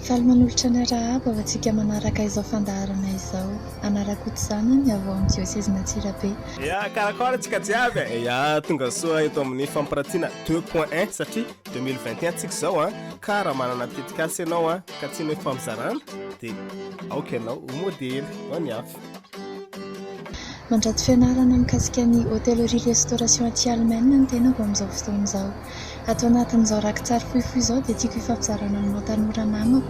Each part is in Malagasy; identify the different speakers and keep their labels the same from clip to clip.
Speaker 1: Faly manolotra ny arahaba ho antsika manaraka izao fandaharana izao. Anarak'Ota zanany avy ao amin'ny diosezin'Antsirabe. Ya, karakôry
Speaker 2: antsika jiaby e? Ya, tonga soa eto amin'ny fampiratiana deux point un satria deux mille vingt et un tsika izao an! Ka raha manana tetikasa ianao an, ka tianao hifamizarana dia aoka ianao ho modely ho an'i hafa. Mandrato
Speaker 1: fianarana mikasika ny Hôtellerie Restauration aty Allemagne ny tenako amin'izao fotoana izao. Ato anatin'izao rakitsary fohifohy izao dia tiako hifampizarana aminao tanora namako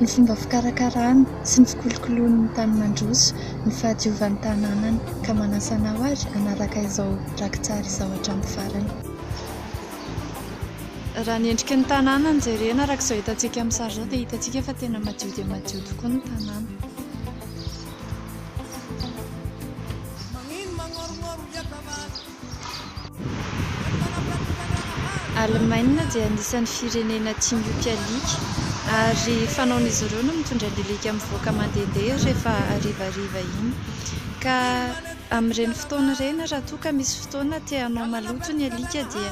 Speaker 1: ny fomba fikarakarana sy ny fikolokoloan'ny tany mandroso ny fahadiovan'ny tanànany ka manasa anao ary hanaraka izao rakitsary izao hatramin'ny farany. Raha ny endriky ny tanàna no jerena araka izao hitantsika amin'ny sary izao dia hitantsika fa tena madio dia madio tokoa ny tanàna. Alemaina dia anisan'ny firenena tia mioty alika ary fanaon'izy ireo no mitondra ny alika mivoaka mandehandeha rehefa harivariva iny ka amin'ireny fotoana ireny raha toa ka misy fotoana te hanao maloto ny alika dia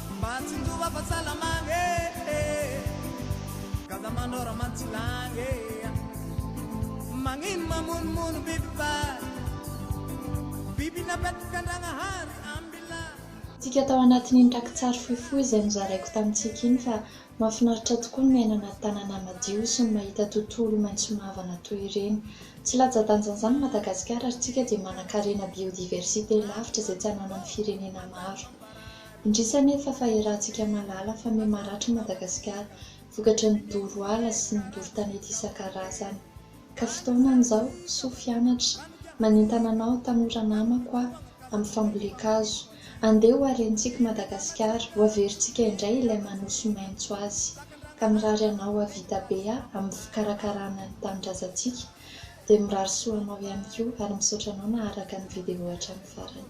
Speaker 3: Mba tsindova fa salamagna eh eh Gaga manao ramantsilagna eh ah Magnino mamonomono biby fa Biby napetraka an-dragnahary ambilà Tsika tao
Speaker 1: anatin'iny rakitsary fohifohy izay nozaraiko tamintsika iny fa mahafinaritra tokoa ny miaina anaty tanàna madio sy ny mahita tontolo maitso mavana toy ireny. Tsy latsa-danjan'izany i Madagasikara ary tsika dia manan-karena biodiversité lavitra izay tsy ananan'ny firenena maro. Indrisy anefa fa iarahantsika mahalala fa miha maratra i Madagasikara vokatry ny doro ala sy ny doro tanety isan-karazany. Ka fotoanany izao, soa fianatra, manentana anao tanora namako aho amin'ny fambolen-kazo, andeha ho harentsika i Madagasikara, ho averintsika indray ilay manosy maitso azy. Ka mirary anao hahavita be aho amin'ny fikarakarana ny tanindrazantsika, dia mirary soa anao ihany koa ary misaotra anao naharaka ny video hatramin'ny farany.